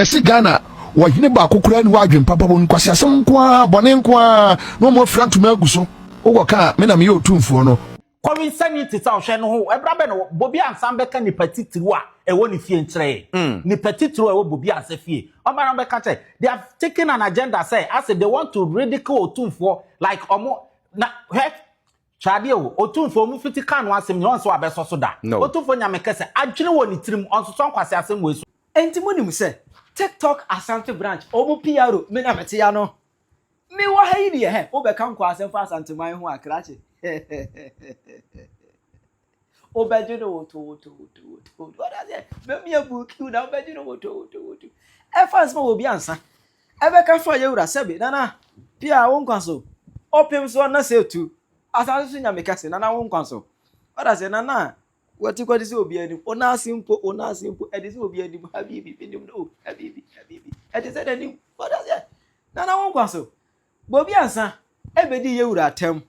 Ɛse Ghana wɔ hene baako koraa ni hɔ adwen papa wɔ mu nkwaseasɛm nko ara bɔne nko ara na wɔn afira ntoma agu so wokɔ ka a me na meyɛ otumfoɔ no. Kɔre nsani te sɛ ɔhwɛ no ho ɛbra bɛ na Bobi ansan bɛka nipa titiriw a ɛwɔ ne fie nkyerɛ yɛn nipa titiriw a ɛwɔ Bobi ansa fie ɔba na ɔbɛka kyerɛ they have taken an agenda sɛ ase they want to ridicule otumfoɔ like ɔmo na hwɛ Hwɛ adeɛ o, Otumfoɔ, mo fiti kaa no asɛm nyina ɔnsɛ wabɛsɔ so da. Otumfoɔ Nyame kɛsɛ, adwene wɔ ne tirim, ɔnsosɔ nkwaseasɛm wei so. Enti mo nim sɛ TikTok Asante branch ɔmo PRO me na me te ano. Me wɔ ha yi deɛ hɛ, wo bɛka nkwaa asɛm fa Asanteman ho a krakye. Wobɛgye no wotoowotoowotoowotowoto. Wode aseɛ? Bɛmi abu kiw na wobɛgye no wotoowotowoto. Ɛfa nsɛm a obi ansa. Ɛbɛka fa yɛ wura sɛbe nana pia wo nkwa so. Ɔpem so na sɛ tu. Asase so nyame kɛse nana wo nkwa so. Wode aseɛ nana wati kwati sɛ obi anim. Ona ase mpo ona ase mpo ɛde sɛ obi anim habibi menim no habibi habibi ɛde sɛ n'anim. Wode aseɛ nana wo nkwa so. Bobi ansa ɛbɛdi yɛ wura atɛm.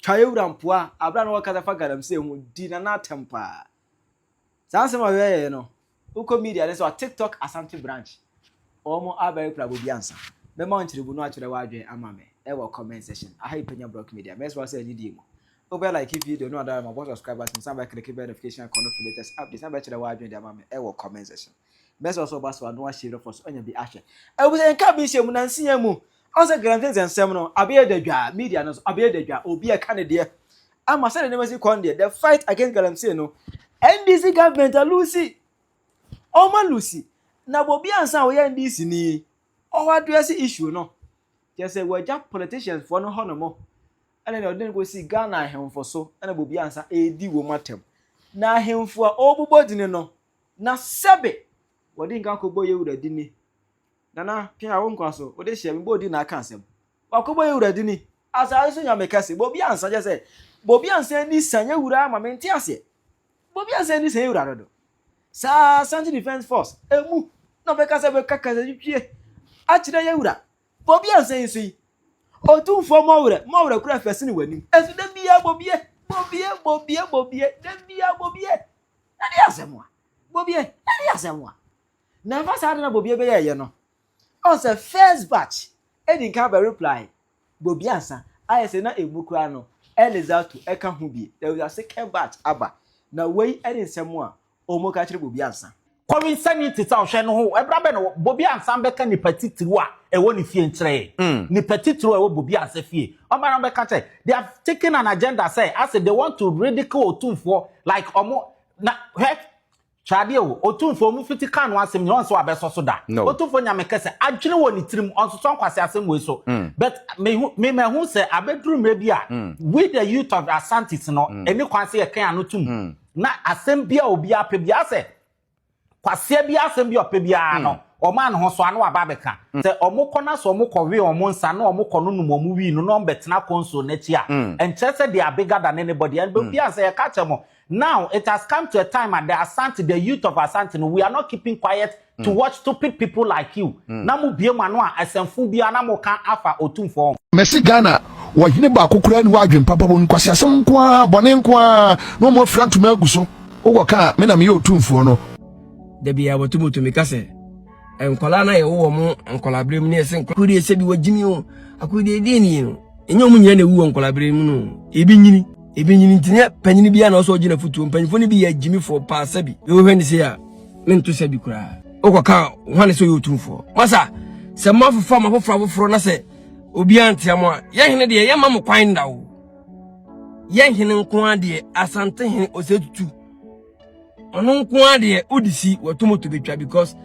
Kayewura Mpoa a bere a na ɔrekasa fa galamsey ho di Nana atɛm paa. Saa nsɛm a ɔyɛɛe no, wokɔ media ne sɛ ɔwɔ TikTok Asante branch. Wɔn abɛwe prabo bi ansa. Mɛma wo nkyerɛmu no akyerɛ w'adwene ama me wɔ comment section. Aha yɛ Panya Brock Media. Mɛsrɛ wo sɛ anidie mu, wobɛ like video no na wada no ma bɔ subscribe button san bɛ click bell notification icon no for latest updates na bɛkyerɛ w'adwene de ama me wɔ comment section. Bɛsɛ ɔsɛ ɔba so ano ahyɛ rɔfɔ so anya bi ahwɛ. Ɛwusɛ yɛn ka bi nhyɛ mu nansi yɛn mu. Ɔn sɛ Granvens nsɛm no abɛyɛ dadwaa, media no nso abɛyɛ dadwaa, obiara ɛka ne deɛ. Ama sɛdeɛ nneɛma si kɔn deɛ, the fight against galamsey no, NDC government alusi. Ɔmo alusi. Na Bobi ansa a ɔyɛ NDC ni, ɔwɔ address issue no. Kyerɛ sɛ wɔagya politicians foɔ no hɔ nom. Ɛna nea ɔde no kɔsi Ghana ahemfo so, ɛna Bobi ansa ɛredi wɔn atɛm. Na ahemfo a ɔrebobɔ dini no, Na sɛbe wɔde nka kɔbɔ yɛ wura dini. Nana pia wo nkwa so wode hyɛ me bɔdi na aka asɛm wakɔbɔ yɛ wura dini asaase so nyame kɛse bobi ansa kyɛ sɛ bobi ansa ani sa yɛ wura ama me nte aseɛ bobi ansa ani sa yɛ wura dodo saa santi defense force emu na ɔbɛka sɛ bɛka kasa twitwie akyerɛ yɛ wura bobi ansa ani so yi ɔtumfoɔ mɔwerɛ mɔwerɛ kura fɛsene w'anim ɛso da biara bobie bobie bobie bobie da biara bobie Na ne asɛm a. Bobie, na ne asɛm a. Na ɛfa saa ade na Bobie bɛyɛɛyɛ no. Ɔn sɛ first batch edi nkan bɛ reply Bobie ansa. Ayɛ sɛ na emu koraa no Elizatu ka ho bi. There was a second batch aba. Na wei ne nsɛm a wɔka kyerɛ Bobie ansa. Kɔre nsani te sɛ ɔhwɛ no ho. Ɛbra bɛ na wɔ Bobi ansan bɛka nipa titiriw a ɛwɔ ne fie nkyerɛ yɛn. Nipa titiriw a ɛwɔ Bobi ansa fie. Ɔba na ɔbɛka kyerɛ. They have taken an agenda sɛ ase they want to ridicule Otumfoɔ like ɔmo na hwɛ hwɛ adeɛ o Otumfoɔ ɔmo fiti kaa no asɛm nyina ɔnsɛ wabɛsɔ so da. Otumfoɔ Nyame kɛsɛ adwene wɔ ne tirim ɔnsosɔ nkwase asɛm wei so but me hu me mahu sɛ abɛduru mmerɛ bi a we the youth of Asantes no ɛni kwan sɛ yɛkɛn ano tum Na asɛm biara obiara pɛ biara sɛ kwasea biara asɛm bi ɔpɛ biara no wɔn a ne ho so ano aba abɛka sɛ wɔn kɔ na sɛ wɔn kɔ wee wɔn nsa na wɔn kɔ no nom wɔn wii no na wɔn bɛtena kɔnso n'akyi a nkyerɛ sɛ they are bigger than anybody and obiara sɛ yɛka kyerɛ mo now it has come to a time at the Asante the youth of Asante no we are not keeping quiet to mm. watch stupid people like you mm. na mo bie mo ano a asɛmfo biara na mo ka afa otumfoɔ ho. mɛsi ghana wɔhene baako koraa ni wɔadwen papa bɔ nkwasi asɛm nko ara bɔne nko ara na wɔn afira ntoma agu so wokɔ kaa me na meyɛ otumfoɔ no. dabi a wɔtumutumi ka sɛ nkwadaa no a yɛwɔ wɔn nkwadaa berɛ mu ne ɛsɛ nkwadaa kodeɛ sɛ bi wɔgyimi o akodeɛ deɛ nie no ɛnyɛ wɔn nyinaa na ɛwu wɔ nkwadaa berɛ mu no ebi nyini ebi nyini ntinyɛ panyin bi a na ɔsɔ ɔgyina futuo mpanyinfoɔ no bi yɛ agyimifoɔ paa sɛbi yɛwɔ hwɛ ne se a mento sɛ bi koraa wokɔka hwane sɛ ɔyɛ otumfoɔ masa sɛ moafofa mo afoforɔ afoforɔ na sɛ obiara ntea mo a yɛhene deɛ yɛma mo kwan nda o yɛhene nko ara deɛ asante hene ɔsɛ tutu ɔno nko ara deɛ wode si wɔtomoto bɛtwa because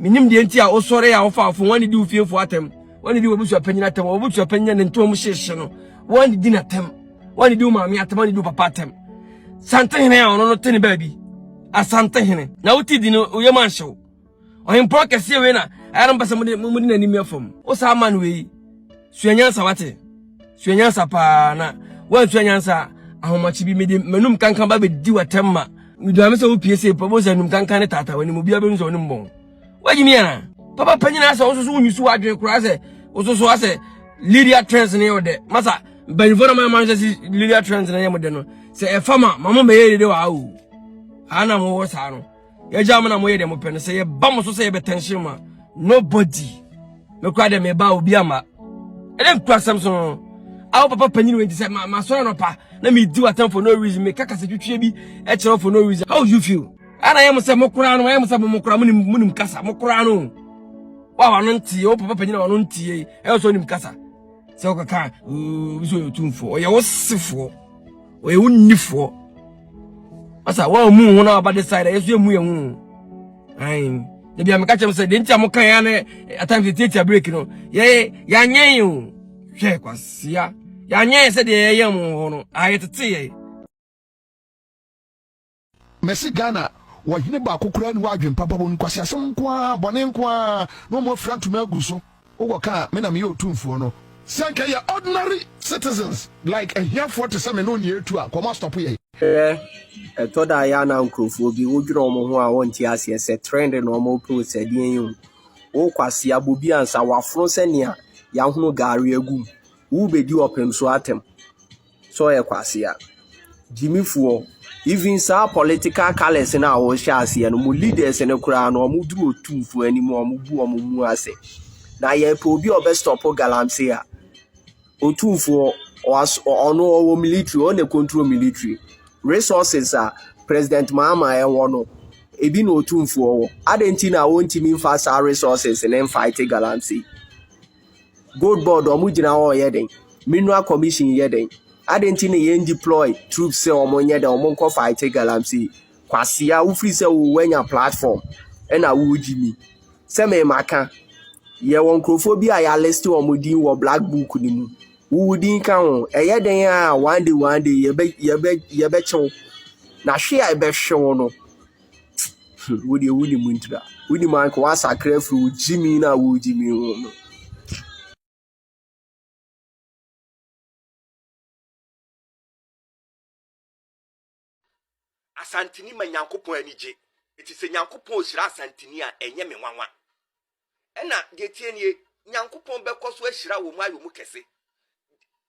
menim deɛ nti a wosɔre a wofa afo wɔne di wo fiefoɔ atɛm wɔne di wɔbusuapanyin atɛm wɔbusuapanyin ne ntoa mu hyehye no wɔne di no atɛm wɔne di wo maame atɛm wɔne di wo papa atɛm santehene a ɔno no te ne baabi asantehene na wote di no woyɛ mu anhyew ɔhempɔn kɛseɛ wei na ɛyɛ no mpɛ sɛ mode mode n'anim yɛ fam wo saa ma no wei sua nyansa wate sua nyansa paa na woansua nyansa ahomakye bi mede m'anum kankan ba bɛdi w'atɛm ma meduame sɛ wopie sei pɔ bɛhu sɛ anum kankan ne taataa w'anim obiara bɛhu sɛ ɔne mbɔn wagye mi ana papa panyin asɛ wososo wonyi so adwene koraa sɛ wososo asɛ lydia trends ne yɛ ɔdɛ masa mpanyinfoɔ no mama nhwɛ si lydia trends ne yɛ mo dɛ no sɛ ɛfa ma ma mo mɛyɛ dede wɔ awo haa na mo wɔ saa no yɛgya mo na mo yɛ deɛ mo pɛ no sɛ yɛba mo so sɛ yɛbɛtɛnhyɛ mu a nobody mekura dɛ meba obi ama ɛdɛ nkura sɛm so no awo papa panyin wɔ nti sɛ masɔre anɔpa na medi w'atam for no reason meka kasa twitwie bi ɛkyerɛ for no reason how you feel Ana yɛ mo sɛ mo koraa no, yɛ mo sɛ mo koraa mo nim mo nim kasa, mo koraa no. Wa wa no ntie, o papa panyin wa no ntie, ɛyɛ sɛ nim kasa. Sɛ o kaka, o so yɛ tumfo, o yɛ wo sefo, o yɛ wo nifo. Asa wa mu ho na aba decide, yɛ so yɛ mu yɛ ho. Ai, da bia me ka kyem sɛ de ntia mo kan ya na at times de tiatia break no. Yɛ ya nyen o. Hwɛ kwasia. Ya nyen sɛ de yɛ yɛ mo ho no. Ayɛ tete yɛ. Mesi Ghana wɔ hene baako koraa ni hɔ adwen papa wɔ mu nkwaseasɛm nko ara bɔne nko ara na wɔn afira ntoma agu so wokɔ ka a me na meyɛ otumfoɔ no. Sɛ nka yɛ ordinary citizens like ahiafoɔ te sɛ me ne onii atu a nka wɔn astɔpo yɛn. Hwɛ, ɛtɔ da a ɛyɛ a na nkurɔfoɔ bi wo dwene wɔn ho a wɔn nte aseɛ sɛ trend na wɔn repɛ o sɛ deɛn yi o wo kwasea bɔ bi ansa wafono sɛ nea yɛahono gari agu mu wo bɛdi ɔpem so atɛm. sɛ ɔyɛ kwasea. Gyimifoɔ, even saa political colours no a wɔhyɛ aseɛ no, mo leaders no koraa no, wɔn duru otumfoɔ anim, wɔn bu wɔn mu ase. Na yɛpɛ obi a ɔbɛ stop galamsey a, otumfoɔ, ɔno ɔwɔ military, ɔno na control military. Resources a President Mahama ɛwɔ no, ebi na otumfoɔ wɔ. Adɛn nti na wɔntumi mfa saa resources ne mfight galamsey? Gold board ɔmo gyina hɔ yɛ dɛn? Mineral commission yɛ dɛn? Adi nti na yɛn deploy troops sɛ ɔmo nyɛ dɛn ɔmo nkɔ fight galamsey? Kwasea wofiri sɛ wo wanya platform ɛna wogyi mi. Sɛ me ma ka, yɛwɔ nkurɔfoɔ bi a yɛaliste wɔn din wɔ black book no mu. Wowo din ka ho. Ɛyɛ dɛn a one day one day yɛbɛ yɛbɛ yɛbɛkyew. Na hwe a ɛbɛhwe wo no. Wo deɛ wonim ntira. Wonim anka woasakra afiri wo gyimi no a wogyimi ho no. Asantini ma Nyankopɔn ani gye. Eti sɛ Nyankopɔn ohyira Asantini a, ɛnyɛ me nwanwa. Ɛna deɛ tie nie, Nyankopɔn bɛkɔ so ahyira wɔn ayɛ wɔn kɛse.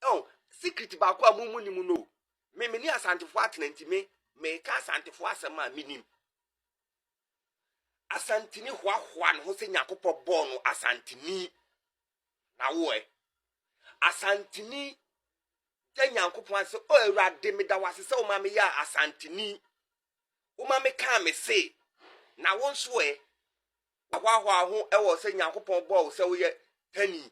Ɛn, secret baako a mo mu nim no o. Me me ne Asantefoɔ atena nti me meka Asantefoɔ asɛm a menim. Asantini hoahoa ne ho sɛ Nyankopɔn bɔɔ no Asantini. Na woɛ? Asantini da Nyankopɔn ase sɛ, O Awurade, meda wo ase sɛ woma meyɛ Asantini. Woma mekaa me se. Na wo nso ɛ? Woahoahoa ho wɔ sɛ Nyankopɔn bɔɔ wo sɛ woyɛ Tani.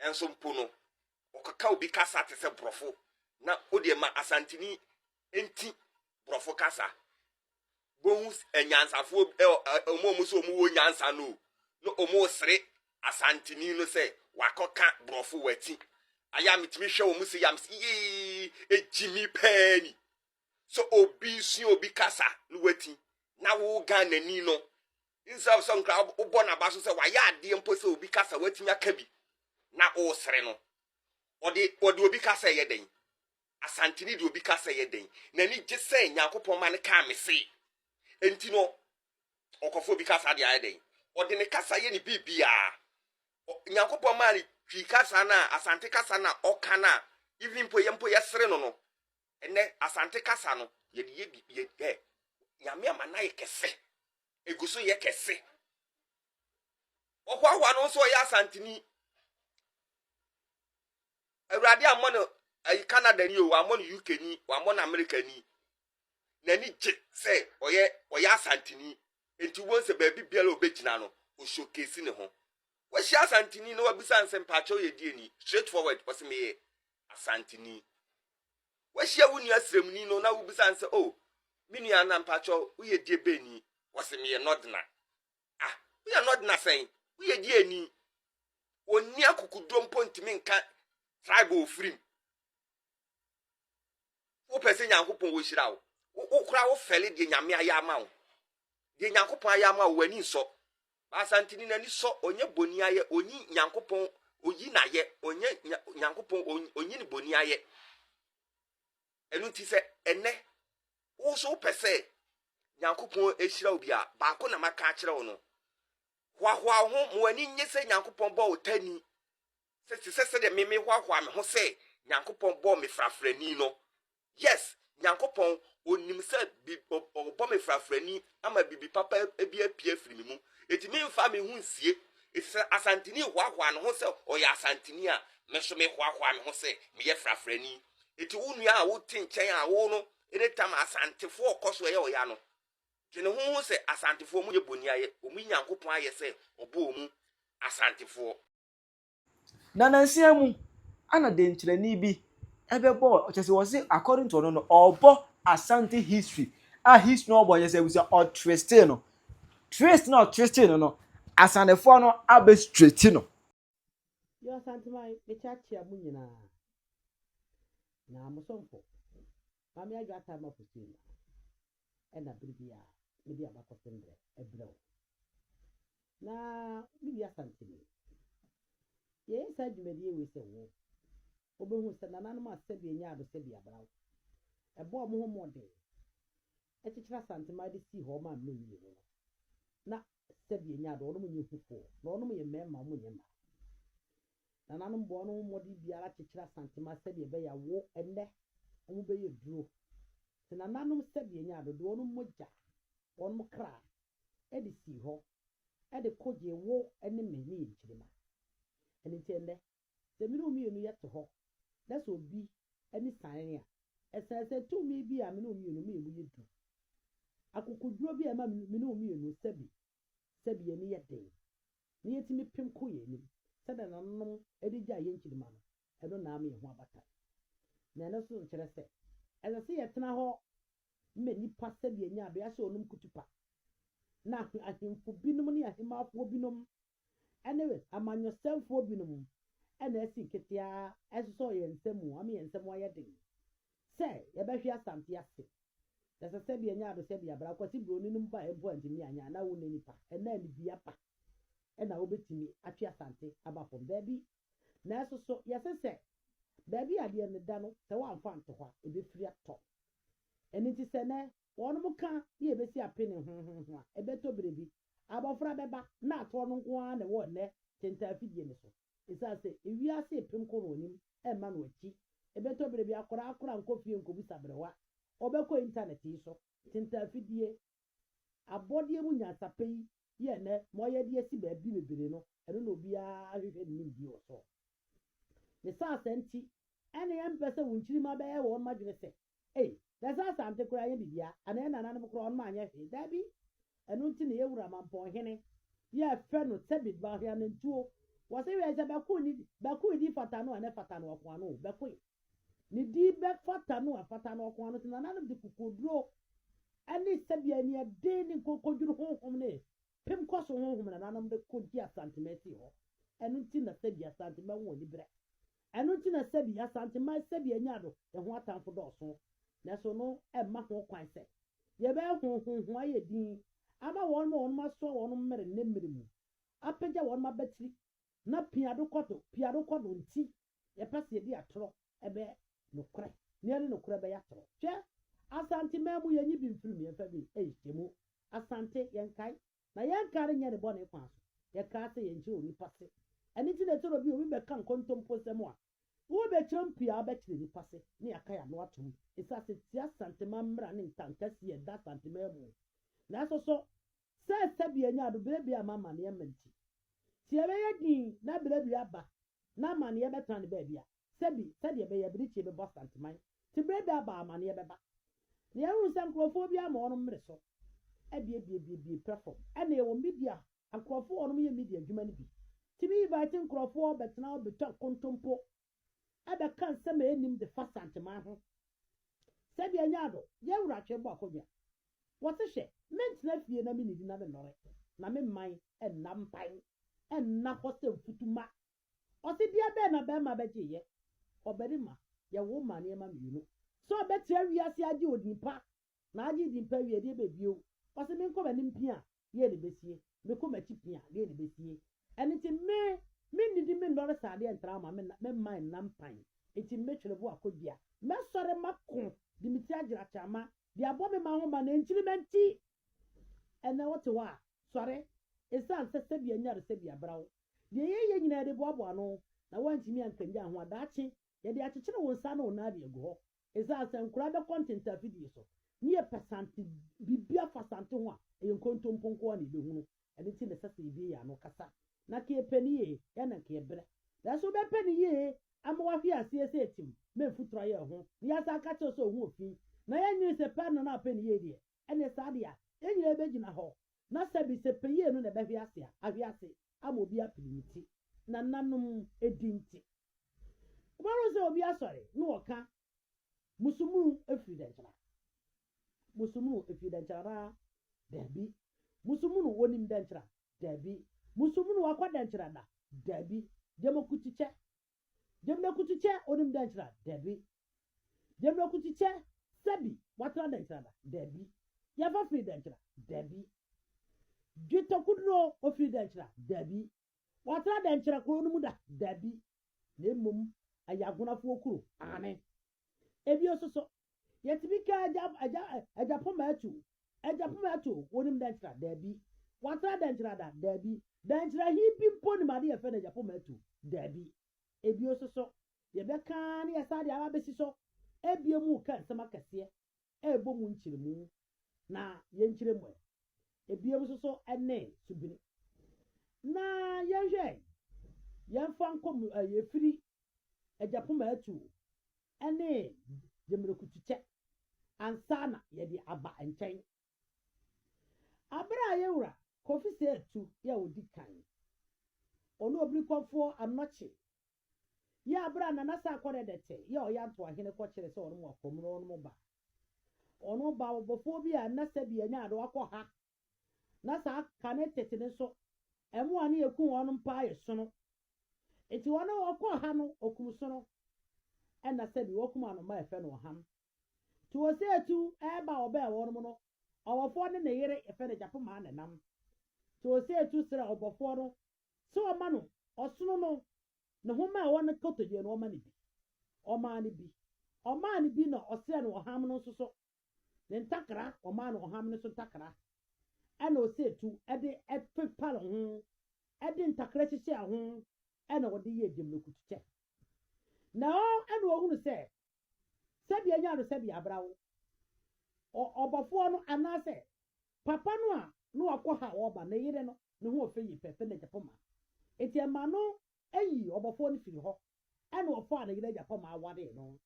Nanso mpo no, ɔkɔka obi kasa te sɛ Borɔfo na ɔde ma Asanteni nti Borɔfo kasa. Bohu anyansafoɔ bi, ɛ, ɛ, wɔn a wɔn sɛ wɔn wɔ nyansa no o, na wɔn resere Asanteni no sɛ wakɔka Borɔfo wati. Ayɛ a metumi hwɛ wɔn sɛ yam sɛ yee, egyimi paa ni. Sɛ obi sua obi kasa na wati, na wo Ghanani no Israel sɛ nkra wobɔ n'aba so sɛ wayɛ adeɛ mpo sɛ obi kasa watumi aka bi na wosere no. Ɔde ɔde obi kasa yɛ dɛn? Asantini de obi kasa yɛ dɛn? N'ani gye sɛ Nyankopɔn ma no kaa me se. Enti no ɔkɔfo obi kasa de ayɛ dɛn? Ɔde ne kasa yɛ ne biribiara. Nyankopɔn maa ne twi kasa na asante kasa na ɔka na even mpo yɛ mpo yɛsere no no. Ɛnnɛ, Asante kasa no, yɛde yɛ bi, yɛ, ɛ, Nyame ama no ayɛ kɛse. Egu so yɛ kɛse. Wɔhoahoa no nso ɔyɛ Asanteni. Awurade ammɔ no ayi Canada ni o, wammɔ no UK ni, wammɔ no America ni. N'ani gye sɛ ɔyɛ ɔyɛ Asanteni. Enti wobɛhu sɛ baabi biara a ɔbɛgyina no, ɔhyokesi ne ho. Wahyia Asanteni na wabisa nsɛm, paakyɛw yɛ deɛ ni? Straight forward, ɔse meyɛ Asanteni. Woahyia wo nua srɛmuni no na wobisa no sɛ, Oh, me nua, na mpakyɛw, woyɛ die bɛni? Ɔse, Meyɛ nɔdena. Ah, woyɛ nɔdena sɛn? Woyɛ die ani? Ɔnni akokoduo mpo ntumi nka tribe a ɔfiri mu. Wopɛ sɛ Nyankopɔn ɔhyira wo, wo koraa wofɛle deɛ Nyame ayɛ ama wo. deɛ Nyankopɔn ayɛ ama wo, w'ani nsɔ. Baasa ntini n'ani sɔ, ɔnyɛ boni ayɛ, ɔnyi Nyankopɔn, ɔyi n'ayɛ, ɔnyɛ Nyankopɔn, ɔnyi ne boni ayɛ. Ɛno nti sɛ ɛnɛ, wo so wopɛ sɛ Nyankopɔn ahyira wo bi a, baako na maka akyerɛ wo no. Hoahoa wo ho, ma w'ani nye sɛ Nyankopɔn bɔ wo tani. Sɛ te sɛ sɛdeɛ me mehoahoa me ho sɛ Nyankopɔn bɔ me frafrani no, Yes, Nyankopɔn, Onim sɛ bi, ɔ, Ɔbɔ me frafrani ama biribi papa bi apue afiri me mu. Enti memfa me ho nsie. Enti sɛ Asanteni hoahoa ne ho sɛ ɔyɛ Asanteni a, me nso mehoahoa me ho sɛ meyɛ frafrani. Enti wo nua a wote nkyɛn a wo no ne tam Asantefoɔ kɔ so yɛ ɔya no, dwene ho hu sɛ Asantefoɔ wɔnyɛ boniayɛ, wɔyi Nyankopɔn ayɛ sɛ Ɔbɔɔ wɔn Asantefoɔ. Na nansia mu ana dɛnkyerɛni bi ɛbɛbɔ wɔ ɔkyɛ sɛ wɔsi according to ɔno no ɔbɔ asante history a history no ɔbɔ yɛ sɛ ebusua ɔtriste no trist na ɔtriste no no asanefoɔ no abɛ straight no. Yo Asanteman mekyakyea mo nyinaa na mo somfo Mame Adwo Atta Mapusua nyinaa. na bere bi a mede abakɔsɛm brɛ brɛ wo. Na me Wia Santini, yɛyɛ saa dwumadie wei sɛ wo wobɛhu sɛ nananom a sɛdeɛ ɛnyɛ ado sɛdeɛ abra wo ɛbɔɔ wɔn ho mmɔden kyekyere Asante man de sii hɔ maa mene mmienu no, na sɛdeɛ ɛnyɛ ado wɔnom nyɛ hufoɔ na wɔnom yɛ mmarima wɔnyɛ mmaa. Nananom bɔɔ wɔn ho mmɔden biara kyekyere Asantema sɛdeɛ ɛbɛyɛ a wo ɛnnɛ wɔn bɛyɛ duro. Te nananom sɛdeɛ nyaa dodo wɔn mogya, wɔn kra, de sii hɔ de ko gyee wo ne me ne yɛn nkyirimma. Ɛno nti ɛnnɛ, sɛ me ne wo mmienu yɛ te hɔ na sɛ obi ani san yɛn a, ɛsane sɛ tumi bi a me ne wo mmienu me yɛn mu yɛ duru, akokoduro bi a ɛma me ne wo mmienu sɛbi sɛbi yɛn ani yɛ den na yɛtumi pem kɔ yɛn anim sɛdeɛ nananom de gyae yɛn nkyirimma no, ɛno na ama yɛn ho abata. Na ɛno nso nkyerɛ sɛ ɛsɛ sɛ yɛtena hɔ ma nnipa sɛdeɛ ɛnya adeɛ ahyɛ wɔn kutupa. Na ahemfo binom ne ahemmafoɔ binom ne amanyɔsɛmfoɔ binom na asi nketeaa sosɔ yɛn nsa mu ama yɛn nsa mu ayɛ den. Sɛ yɛbɛhwe asante ase. Ɛsɛ sɛ bia nya ado sɛ bia bra kwasi broni no baɛ mpo antumi anya na wone nipa ɛna anibia pa ɛna wobɛtumi atwe asante aba fam daabi nanso so yɛse sɛ baabi a deɛ ne da no sɛ woanfa anto hɔ a ɛbɛfiri atɔ ɛno nti sɛ nɛ wɔnom ka ne yɛbɛsi apene ho ho ho a ɛbɛtɔ berɛ bi abɔfra bɛba na atoɔ no nko ara na ɛwɔ ɛnɛ tentaa afidie no so. Esiane sɛ wiase repem kɔ wɔn anim mma no akyi, ɛbɛtɔ bere bi akwadaa koraa nkɔ fie nkobu saberewa. Wɔbɛkɔ Intanɛt yi so. Tintan afidie, abɔdeɛ mu nyansapɛ yi yɛ nnɛ ma wɔyɛ de asi baabi bebree no, ɛno na obiara hwehwɛ ne nimdeɛ wɔ so. Ne saa asɛm nti, ɛnna yɛmpɛ sɛ wo nkyirimma bɛyɛ wɔn adwene sɛ Ei, na ɛsɛ Asante koraa nyɛ biribiara, anaa yɛn nananom koraa wɔn anyɛ hwee? Dabi! Ɛno nti na yɛn wura Mampɔn Hene yi a yɛfrɛ no Thabit Baoheanantuo, wɔse hwɛ sɛ Bɛkoe ne di, Bɛkoe di fata no a na ɛfata no ɔko ano o, Bɛkoe ne di bɛfata no a ɛfata no ɔko ano, sɛ nananom de kokoduro ne sɛdeɛ aniɛden ne nkokodwiri honhom ne pem kɔ so honhom nananom de kɔgye Asanteman sii hɔ, ɛno nti na Thabi Asante bɛwo aniberɛ Ɛno nti na sɛbi Asanteman sɛbi anya do ho atamfo dɔɔso, naaso no mma ho kwan sɛ yɛbɛyɛ hɔn honhon ayɛ dinn ama hɔn ma hɔn asoa hɔn mber ne mber mu, apegya hɔn mbabatsir, na pia do kɔ do, pia do kɔ do ntsi yɛpɛ sɛ yɛde atorɔ bɛyɛ nokorɛ, na yɛde nokorɛ bɛyɛ atorɔ. Hwɛ, Asanteman mu yɛnye bi mfir mu yɛmfa bi nhyiamu. Asante, yɛnkae. na yɛnka renyɛ ne bɔne kwan so. Yɛkaa sɛ yɛnkyerɛ onipa se. Ɛno nti na ɛsɛ sɛ obi a obi bɛka nkontompo nsɛm a, wobɛkyerɛ no pii a wobɛkyerɛ nnipa se na yɛaka yɛn ano atom. Ɛsɛ ase tia Asanteman mmara ne nkankasi a ɛda Asanteman mu. Nanso so sɛ sɛbea nya ado bere bi a ama amanneɛ mma nti, tie bɛyɛ dinn na bere bi aba na amaneɛ bɛtena ne baabi a, sɛbi, sɛdeɛ ɛbɛyɛ abirekyie bɛbɔ Asanteman, te berɛ bi aba a amaneɛ bɛba. Na yɛahunu sɛ nkorɔfoɔ biara ma wɔnom mmere so abiebiebiebiebie pɛ fam. Ɛnna yɛwɔ media a nkorɔfoɔ a wɔnom yɛ media adwuma no bi tumi invite nkorɔfoɔ bɛtena hɔ bɛtwa nkontompo bɛka nsɛm a ɛnnim de fa Asanteman ho. Sɛdeɛ Nyado, yɛn wura twe bɔ akonnwa Wɔse hwɛ, mentena fie na mennidi na mennɔre, na me mman nna mpan nna hɔ sɛ mfutuma. Ɔse deɛ bɛn na barima bɛgyeeɛ? Ɔbarima, yɛwoo maa nneɛma mmienu, sɛ ɔbɛtra wiase agye odin pa, na agye din pa wie deɛ bɛ bio? Ɔse menkɔ m'anim pia deɛn na ɛbɛsie? Mekɔ m'akyi pee a, deɛn na ɛbɛsie? Ɛno nti, me, mennidi, mennɔre saa adeɛ ntra wo ma, me nna, me mma nna mpan. Enti mɛtwere bo akɔ dua. Mɛsɔre mako de me ti agyina kyama, de abɔ me mma ho mma na nkyirimma nti. Ɛnnɛ wote hɔ a, sɔre, ɛsiane sɛ sɛdeɛ nyaresɛbea bra wo. Deɛ yɛyɛ nyinaa yɛde boaboa ano, na woantumi ankanyan ho a, daakye yɛde akyekyere wo nsa ne wo nan de agu hɔ esiane sɛ nkwadaa bɛkɔ ntenta afidie so ne yɛpɛ sante biribi afa sante ho a ɛyɛ nkontompo nko ara na yɛbɛhunu ɛno nti na ɛsɛ sɛ yɛbue yɛn ano kasa na nka yɛpɛ no yie yɛ na nka yɛbrɛ nanso wobɛpɛ no yie ama wahwe aseɛ sɛ ɛtim ma mfuturo ayɛ ho na yɛasan aka kyerɛ sɛ ɔho ɔfi na yɛnwene sɛ pɛ no na apɛ no yie deɛ Ɛneɛ saa deɛ a, yɛn nyinaa bɛgyina hɔ, na sɛbi sɛ pɛyie no na ɛbɛhwe ase a, ahwe ase, ama obi apini ne ti, nananom ɛdi nti. Wobɛhunu sɛ obi asɔre na ɔka, Musumunu ɛfiri Dɛnkyɛra, Musumunu ɛfiri Dɛnkyɛra anaa? Daabi. Musumunu ɔnim Dɛnkyɛra? Daabi. Musumunu wakɔ Dɛnkyɛra da? Daabi. Gyamokukyikyɛ, Gyamina Kutu kyɛ onim dɛ nkyera? Dabi. Gyamina Kutu kyɛ sɛ bi watena dɛ nkyera da? Dabi. Yɛfa firi dɛ nkyera? Dabi. Dwetɔ Kuduro ofiri dɛ nkyera? Dabi. Watena dɛ nkyera kuro no mu da? Dabi. Na mmom ɛyɛ Agonafoɔ kuro. Aane. Ebio nso so Yɛtumi ka agya, agya, agya poma atu. Agya poma atu, wonim dɛn kyerɛ? Daabi. Watra dɛn kyerɛ ada? Daabi. Dɛn kyerɛ he bi mpo nim ade yɛfrɛ no agya poma atu? Daabi. Ebio nso so, yɛbɛka ara na yɛsan de aba abɛsi so. Ebia mu reka nsɛm akɛseɛ, ɛrebɔ mu nkyeremu, na yɛnkyerɛ mu ɛ. Ebiom nso so ne subene. Na yɛnhwɛ ɛ, yɛmfa nkɔ mu ɛ, yɛfiri agyapoma atuo ne gyemmerɛkutukyɛ ansa na yɛde aba nkyɛn. Abere a yɛn wura Kofi Saatu yɛ ɔdi kan, ɔne Obirikɔfoɔ Anokye Yɛ aber a Nana Sarkodie Adete yɛ Ɔyanto Ahene kɔkyerɛ sɛ ɔnom akɔ mu no ɔnom ba. Ɔno ba ɔbɔfoɔ bi a nna sɛbi anya ade wakɔ ha na saa ka ne tete no nso ɛmoa ne ɛku ɔnom paa yɛ sono. Nti ɔno ɔkɔ ha no ɔkum sono ɛna sɛbi wakum anoma a ɛfɛ no ɔham. Nti ɔsɛ ɛtu ɛba ɔbɛɛ ɔnom no ɔbɔfoɔ ne ne yere ɛfɛ no Japo maa ne nam. Nti ɔsɛ ɛtu serɛ ɔbɔfoɔ no sɛ ɔma no ɔsono no nhoma a ɛwɔ ne kotodwe no, ɔma no bi. Ɔmaa no bi. Ɔmaa no bi na ɔsrɛɛ no ɔham no nso so ne ntakra, ɔmaa no ɔham no so ntakra, ɛna ɔsɛ tu de pepare ho, de ntakra hyehyɛɛ ho, ɛna ɔde yɛɛ gyamnakutukyɛ. Na ɔ ɛna ɔhunu sɛ sɛdeɛ nya no sɛdeɛ abra wo ɔ ɔbɔfoɔ no anaasɛ papa no a na wakɔ ha a ɔreba ne yere no ne ho ɔfɛ yi pɛ Philip poma enti ɛma no yi ɔbɔfoɔ no firi hɔ ɛna ɔfaa ne yere agya poma awaree no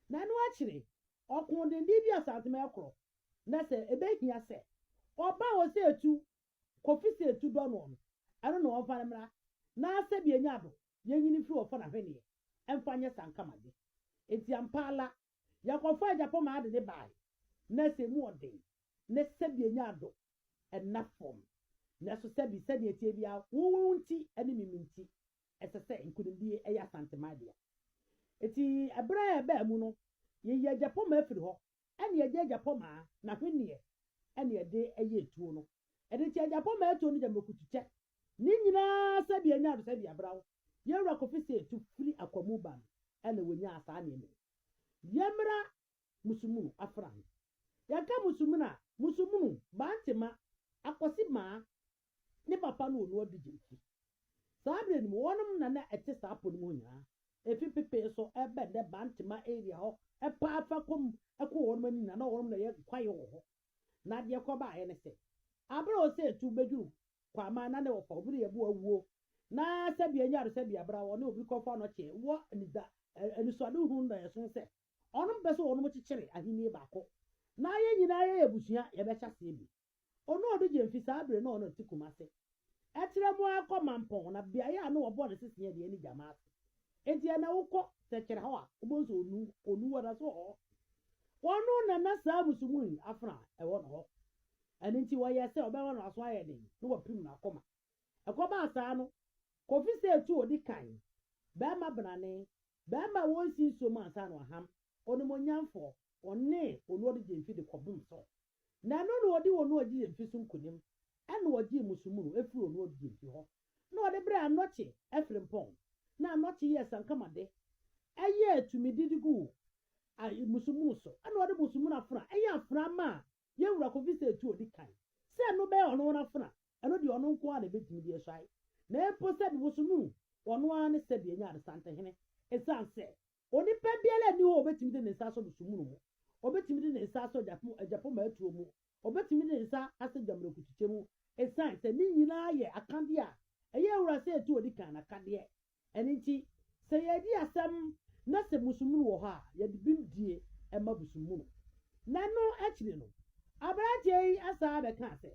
na ɛno akyire ɔkoo denden bi asantema ɛkorɔ na sɛ ɛbɛhia sɛ ɔba ɔsɛ ɛtu Kofi sɛ etu dɔ noɔ no, ɛno na ɔnfa no mmra na sɛbi enya ado yɛnyini firi ɔfɔ na hwɛneɛ ɛnfa nyɛ sankamadze. Enti ampaala, yɛkɔfaa Gyapɔmaa de ne baae na sɛ emu ɔden na sɛbi enya ado ɛnna fɔm. Nɛso sɛbi sɛdeɛ ɛteɛ biara wo wo nti ɛne me me nti ɛsɛ sɛ nkunimdie ɛyɛ Asanteman dea. Enti ɛberɛ a ɛbaa mu no, yɛyii Agyapɔmaa firi hɔ ɛne ɛde agyapɔmaa na hweneɛ ɛne ɛde ɛyɛ ɛtuo no ɛde kyɛ agyapɔmaa ɛtuo no gya mɛkutu kyɛ ne nyinaa sɛdeɛ ɛnya ado sɛdeɛ ɛbra wo yɛwura kofi sɛ ɛtu firi akwamu ba no ɛna wɔnyaa saa nneɛma yi yɛmmra musumunu afra no yɛka musumunu a musumunu bantema akwasi maa ne papa no wɔ no adu gyimfi. Saa berɛ no mu, wɔnom na na ɛte saa po no mu hɔ nyinaa. Ɛfiri pepee so bɛ nnɛ Bantama area hɔ paa fa kɔ mu kɔ wɔnom ani nyinaa na wɔnom na ɛyɛ kwaeɛ wɔ hɔ. Na deɛ ɛkɔ baeɛ ne sɛ, aberɛ a ɔsɛ ɛtu bɛduru Kwaman na ne wɔfa obi ne yɛbo awuo na sɛbi anyare sɛbi abra wɔne obi kɔ fa no kyeɛ wɔ anida anisoade hunu na ɛsono sɛ wɔnom pɛ sɛ wɔnom kyekyere ahennie baako na yɛn nyinaa yɛyɛ abusua yɛbɛhyɛ aseɛ bio. Ono ɔdo gye mfi saa bere no a ɔno te Kumasi. Ɛtrɛ mu ara kɔ Mampong na beaeɛ a na wɔbɔ no sesea deɛ ne Gyamaase. Enti ɛnna wokɔ Sɛkyerɛ hɔ a, wobɛhu sɛ Onu, Onuwa na so hɔ. Ono na na saa Musumui afena a ɛwɔ no hɔ. Ɛno nti wɔyɛɛ sɛ wɔbɛma no aso ayɛ den na wɔapirim no akoma. Ɛkɔbaa saa no, Kofi sɛ etu odi kan, barima benane, barima a wɔnsi nsuo mu ansa na wɔaham, onimuonyamfoɔ, one Onu ɔdo gye mfi de kɔbom so. na ɛno na ɔde wɔn a ɔgye yɛn fi so nkonim, ɛna ɔgyee mo sumunu firi wɔn a ɔgye yɛn fi hɔ, na ɔde brɛɛ anɔkye afirimpɔn, na anɔkye yɛɛ sankama de, ɛyɛɛ tumidi de guu a mo sumunu so, ɛna ɔde mo sumunu afena, ɛyɛ afena maa yɛn Wura kɔfi sɛ etu ɔdi kan, sɛ ɛno bɛyɛ ɔno ara afena, ɛno deɛ ɔno nko ara na ɛbɛtumi de asuae, na mpo sɛdeɛ mo sumunu ɔno ara ne sɛdeɛ ɛnyɛ adesantehene, ɛsiane sɛ Onipa biara nni hɔ a obetumi de ne nsa asɔ busumunu mu, obetumi de ne nsa asɔ agyapong atuo mu, obetumi de ne nsa asɔ gyamrekutukyɛ mu, esiane sɛ ne nyinaa yɛ akadeɛ a ɛyɛ wura sɛ ɛtu odi kan akadeɛ. Ɛno nti, sɛ yɛredi asɛm na sɛ busumunu wɔ hɔ a, yɛde bimdie ma busumunu. Ɛno akyiri no, aberanteɛ yi san abɛkaa sɛ,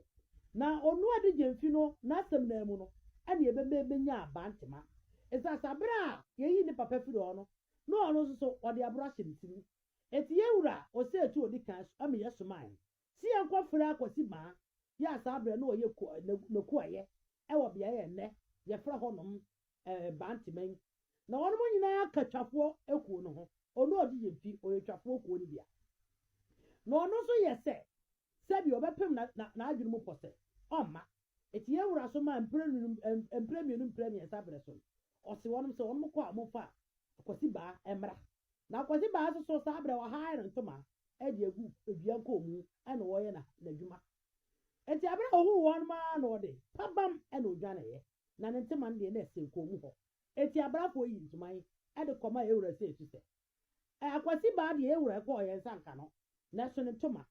Na Onuadijemfi no n'asɛm no ara mu no, ɛnneɛ ɛbɛma yɛbɛnya abantema. Esiane sɛ bere a yeyii ne papa fii hɔ no, na ɔno nso so ɔde aboro ahyɛ ne ti mu nti, yɛn wura Osei-Tuah a odi kan so ma yɛsomae sɛ yɛnkɔfrɛ Akwasi Baa yi a saa bere no na ɔyɛ Nekuayɛ wɔ beae a nnɛ yɛfrɛ hɔnom Banteman. Na wɔnom nyinaa ka Twafoɔ kuo no ho. Ɔno a ɔdi yɛn fi, ɔyɛ Twafoɔ kuo no bia. Na ɔno nso yɛ sɛ sɛdeɛ ɔbɛpem n'adwene mu pɔ sɛ ɔmma. Enti yɛn Wura so maa mprenu, mprɛmienu, mprɛmiɛnsa berɛ so no, ɔse wɔnom sɛ wɔnom kɔ a wɔmfa Akwasibaa mmra. Na Akwasibaa nso so saa berɛ wɔhae no ntoma de agu dua nkɔɔ mu na ɔreyɛ n'adwuma. Enti aberɛ a ɔhuu wɔnom ara na ɔde pabam na ɔdwaneeɛ, na ne ntoma no deɛ na ɛsɛn kɔn mu hɔ. Enti abrafoɔ yii ntoma yi de kɔmaa yɛn Wura Seesu sɛ Ɛɛ Akwasi baa deɛ yɛwura ɛkɔɔ yɛn nsa nka no, nɛso ne ntoma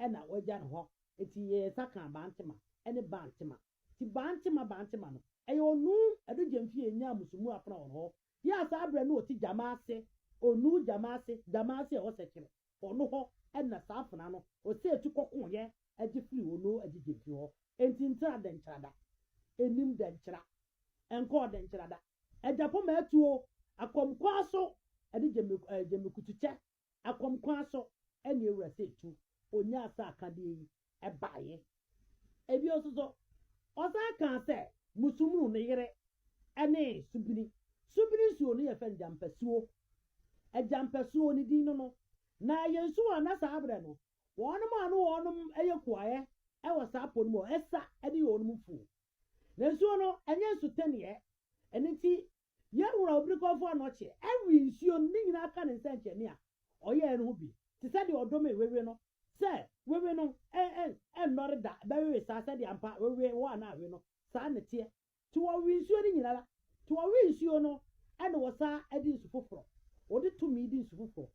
ɛna wagya no hɔ, nti yɛɛ nsa kaa Bantema ɛne Bantema. Nti Bantema Bantema no, ɛyɛ Onuu ɛdo gyɛmfie ɛnyaa musumu afena wɔn hɔ, yɛ a saa berɛ no ɔte Gyamaase, Onuu Gyamaase, Gyamaase ɛwɔ Sɛkyerɛ, ɔno hɔ ɛna saa afena no ɔsɛ ɛtu kɔkoo yɛ ɛgye firi Onuu ɛgye gyɛmfie hɔ. Nti Ntra Dɛnkyerada ɛnim Dɛnkyera, ɛnkɔɔ Dɛnkyerada. Agya poma atuo, akɔm kwan so ɛne gyamikutukyɛ, akɔm kwan so ɛne awura sɛ tu, ɔnyaa saa akadeɛ yi baeɛ. Ɛbio nso so, ɔsan kaa sɛ Musumunu ne yere ɛne Subini. Subini nsuo no yɛfrɛ no Gyampasuo. Gyampasuo ne din no no, na ɛyɛ nsuo a na saa berɛ no wɔnom a na wɔnom yɛ kuaɛ ɛwɔ saa po no mu hɔ, ɛsa ɛne wɔnom mfuo. Na nsuo no, ɛnyɛ nsutɛnneɛ. Ɛno nti, yɛn Wura Obirikɔmfoɔ Anɔkyeɛ awe nsuo no, ne nyinaa aka Ne nsɛnkyerɛnne a Ɔyɛeɛ no ho bi, te sɛ deɛ Ɔdomee wewe no, sɛ, Wewe no nnɔre da, ɛbɛwewe saa, sɛdeɛ ampa wewe hɔ a na awe no, saa na ɛteɛ. Nti wɔwe nsuo no nyinara. Nti wɔwe nsuo no, ɛna wɔsan de nsu foforɔ, wɔde tumi de nsu foforɔ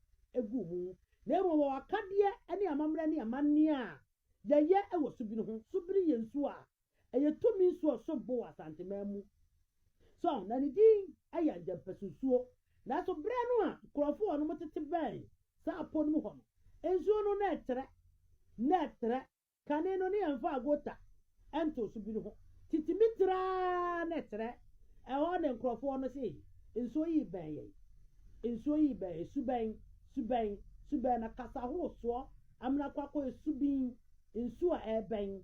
gu mu, na mmom wɔwɔ akadeɛ ne amammerɛ ne amanneɛ a yɛyɛ wɔ subiri ho. Subiri yɛ nsuo a ɛyɛ tumi nsu a ɔso bo wɔ Asanteman mu. So na ne din yɛ Angyɛmpɛso nsuo? Nanso berɛ no a nkurɔfoɔ a wɔnom tete bɛn saa po no mu hɔ no, nsuo no na ɛtrɛ, na ɛtrɛ. Kane no ne yɛmfaa gota ntoo so bi no ho. Titimi tra ara na ɛtrɛ. Ɛhɔ na nkurɔfoɔ no se, Nsuo yi rebɛn yɛn. Nsuo yi rebɛn yɛn. Su bɛn? Su bɛn? Su bɛn? Na kasa horosoɔ amena kɔ akɔyɛ su bin. Nsu a ɛrebɛn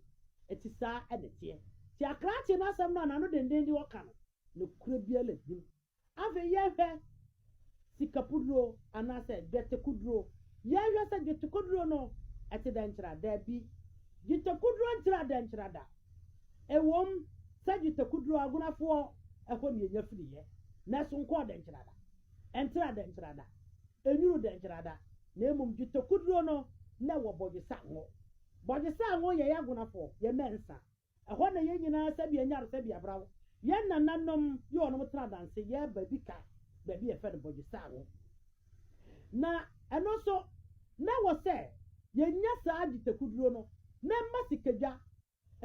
te saa na ɛteɛ. Te akrakyee no asɛm no a n'ano denden de ɔka no, nokorɛ biara nni mu. Afei yɛnhwɛ sikapuduro anaasɛ dwɛtekuduro. Yɛnhwɛ sɛ dwɛtekuduro no te dɛn kyerɛ? Dabi. Dwɛtekuduro nkyerɛ dɛn kyerɛ da. Ɛwom sɛ dwɛtekuduro, agonafoɔ, ɛhɔ na yɛnya firiiɛ, nanso nkɔɔ dɛn kyerɛ da. Ɛntra dɛ nkyera da, ɛnwunu dɛ nkyera da, na mmom dwetɛ kuduro no na ɛwɔ bɔdwesa ngo. Bɔdwesa ngo yɛ y'agonafoɔ, yɛ mɛnsa. Ɛhɔ na yɛn nyinaa sɛbi anyar sɛbi abraw. Yɛn nananom yɛ ɔnom tra danse yɛ baabi ka baabi yɛfɛ no bɔdwesa ngo. Na ɛno nso na ɛwɔ sɛ yɛnya saa dwetɛ kuduro no na ɛma sikadwa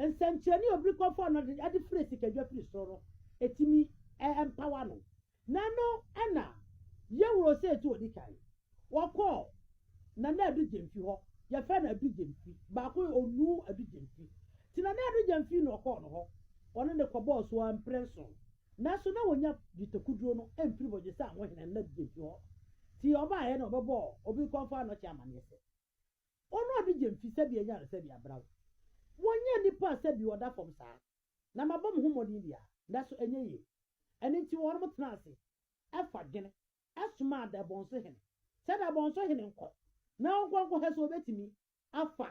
nsɛnkyerɛnne a obi kɔfa no de frɛ sikadwa firi soro no, etumi mpawa no. Na ɛno na Yɛwura Osei tu odi kan. Wɔkɔɔ Nana Adu Gyamfi hɔ, yɛfrɛ no Adu Gyamfi, baako yɛ Onuu Adu Gyamfi. Nti Nana Adu Gyamfi na ɔkɔɔ no hɔ, ɔne no kɔbɔɔ so ara mpre nson. Nanso na wɔnnya dwetɛkuduro no mfiri Bɔgyesɛ Amohene Nana Adu Gyamfi hɔ. Nti ɔbaeɛ na ɔbɛbɔɔ obi kɔfa no kyɛ amanneɛ sɛ. Ɔno a ɔde gye mfi sɛbi anyaresɛbi abraw. Wɔnyɛ nnipa a sɛbi wɔda fam saa, na mabɔ me ho mmɔden biara, nanso ɛnyɛ yiye. Ɛno nti wɔnom tenaa ase, ɛfa dwene, ɛsomaa Dabɔnso Hene, sɛ Dabɔnso Hene nkɔ na ɔnkɔ nkɔhɛ sɛ ɔbɛtumi afa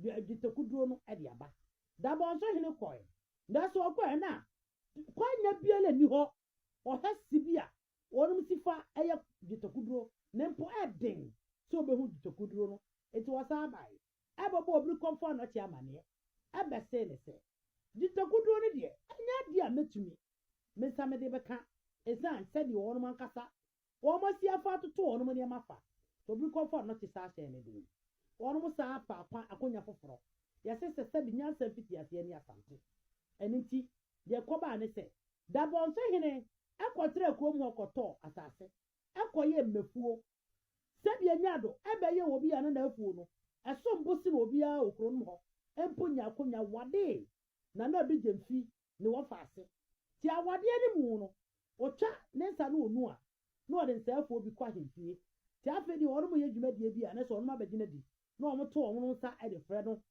dwetɛkuduro no de aba. Dabɔnso Hene kɔɛ, nanso ɔkɔɛ na kwannya biara nni hɔ ɔhwɛ si bi a wɔnom si fa yɛ dwetɛkuduro ne mpo ɛden sɛ ɔbɛhu dwetɛkuduro no nti wɔsan bae bɛbɔɔ Birikɔmfo Anɔkye amaneɛ bɛsee no sɛ dwetɛkuduro no deɛ ɛnyɛ adeɛ a mɛtumi mensa mede bɛka ɛsiane sɛdeɛ wɔnom ankasa Wɔn asiafo atoto wɔn nneɛma fa. Obi kɔ fam no te sɛ ahyɛn no den. Wɔn san afa akwan akonya foforo. Yɛse sɛ sɛbe nyansa mfitiaseɛ ne Asante. Ɛno nti deɛ ɛkɔbaa ne sɛ, Dabɔnso hene kɔtraa kurom hɔ kɔtɔɔ asase kɔyɛɛ mmafuo. Sɛbe Nyado bɛyɛɛ obi a na n'afuo no som bo sene obiara wɔ kuronom hɔ mpo nya akonya wadee na na Bigyemfi ne wɔfa ase. Te awadeɛ no mu no, ɔtwa ne nsa ne ɔnu a, na ɔde nsɛefoɔ bi kɔ ahemfie. Te afei deɛ wɔnom yɛ dwumadie bi a, na ɛsɛ wɔnom abɛgye no adi, na wɔnom to wɔnom nsa de frɛ no.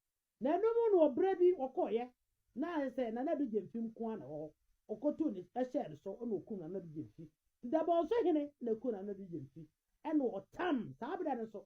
Na ɛno mu no ɔbrɛ bi ɔkɔeɛ, na ayɛ sɛ Nana Ado Gyamfi nko ara na ɛwɔ hɔ, ɔkɔtuu ne hyɛɛ no so na ɔkum Nana Ado Gyamfi. Te Dabɔnso hene na ɛkum Nana Ado Gyamfi, ɛna ɔtam, saa berɛ no nso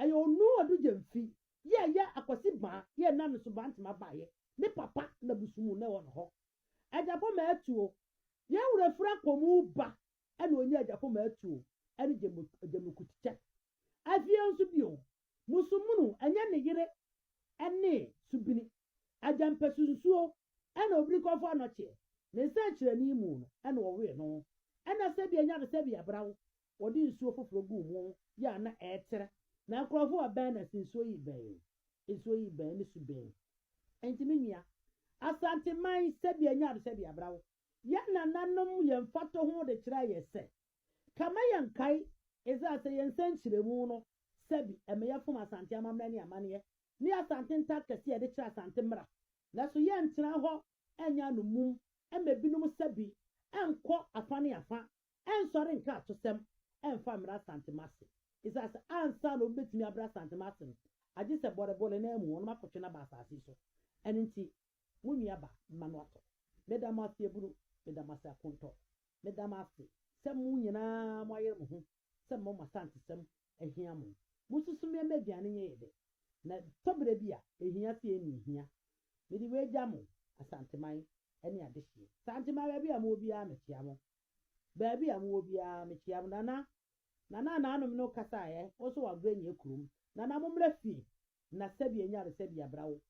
Ɛyɛ Onuo Adu Gyamfi yɛ ɛyɛ Akwasi baa yɛ na ne Subaantema baa yɛ ne papa na busumu na ɛwɔ ne hɔ. Agyapɔ ma atuo yɛn wura firi akɔmu ba ɛna ɔnya Agyapɔ ma atuo ɛne Gyamukutikyɛ. Afie nso bio Musumunu ɛnyɛ ne yere ɛne Subini Agyampasu nsuo ɛna Obirikɔfoɔ Anɔkyeɛ ne nsɛnkyerɛnne mu no ɛna ɔwee no ɛna sɛbi ɛnya no sɛbi abrawo wɔde nsuo foforɔ guu mu yɛ a na ɛretrɛ. Na nkurɔfoɔ a bɛn na se nsuo yi bɛn, nsuo yi bɛn ne su bɛn. Enti me nua, Asanteman sɛdeɛ ɛnyɛ ade sɛ de abra wo. Yɛn nananom yɛ mfatoho de kyerɛɛ yɛn sɛ, ka ma yɛnkae Israel sɛ yɛn nsɛnkyerɛmu no sɛbi ɛmɛ yɛfom Asante amammerɛ ne amanneɛ ne Asante nta kɛseɛ a yɛde kyerɛ Asante mmra. Nanso yɛntena hɔ nyɛ anommum mma ebinom sɛbi nkɔ afa ne afa ɛnsɔre nka atosɛm mfa mmra Asantema ase, esiane sɛ ansa na obi betumi abra Asantema ase no, agye sɛ bɔrebɔ ne nan mu wɔnom akɔtwe no aba asase yi so. Ɛno nti, mo nua ba, mma no atɔ. Meda mo ase abunu, meda mo ase akontɔ, meda mo ase sɛ mo nyinaa moayere mo ho sɛ mma mo Asantesɛm ahia mo. Mosusu me mma aduane nyɛ yɛ dɛ, na ɛtɔ bere bi a, ehia sɛ yɛn hia. Mede wei gya mo, Asanteman ne adehyeɛ. Santema baabi a mowɔ biara mekyea mo. Baabi a mowɔ biara mekyia mo. Nana, Nana naanom no kasa ɛ, wo nso w'abrɛ nyɛ kurom. Nana mommra fie na sɛdeɛ nyaresɛ bi abra wo.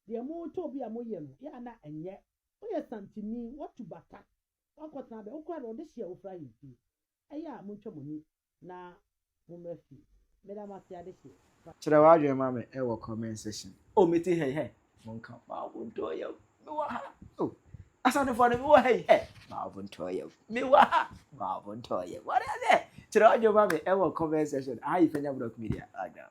Deɛ moretɔ bi a moyɛ no, yɛ a na ɛnyɛ. Woyɛ santini, woatu bata, woakɔtena bɛ, wo koraa deɛ wɔde hye a wofiri ahemfie. Ɛyɛ a montwa mo ani na mo mma fi. Meda mo ase adehye pa. Kyerɛ w'adwene ma me wɔ comment section. Oh me ti hɛ hɛ. Monka m'awontɔɔ yaw me wɔ ha oh. Asantefoɔ no me wɔ ha yi hɛ. M'awontɔɔ yaw me wɔ ha m'awontɔɔ yaw. Wate aseɛ? Kyerɛ w'adwene ma me wɔ comment section. Aha yɛ Fanya Brock Media. Ada.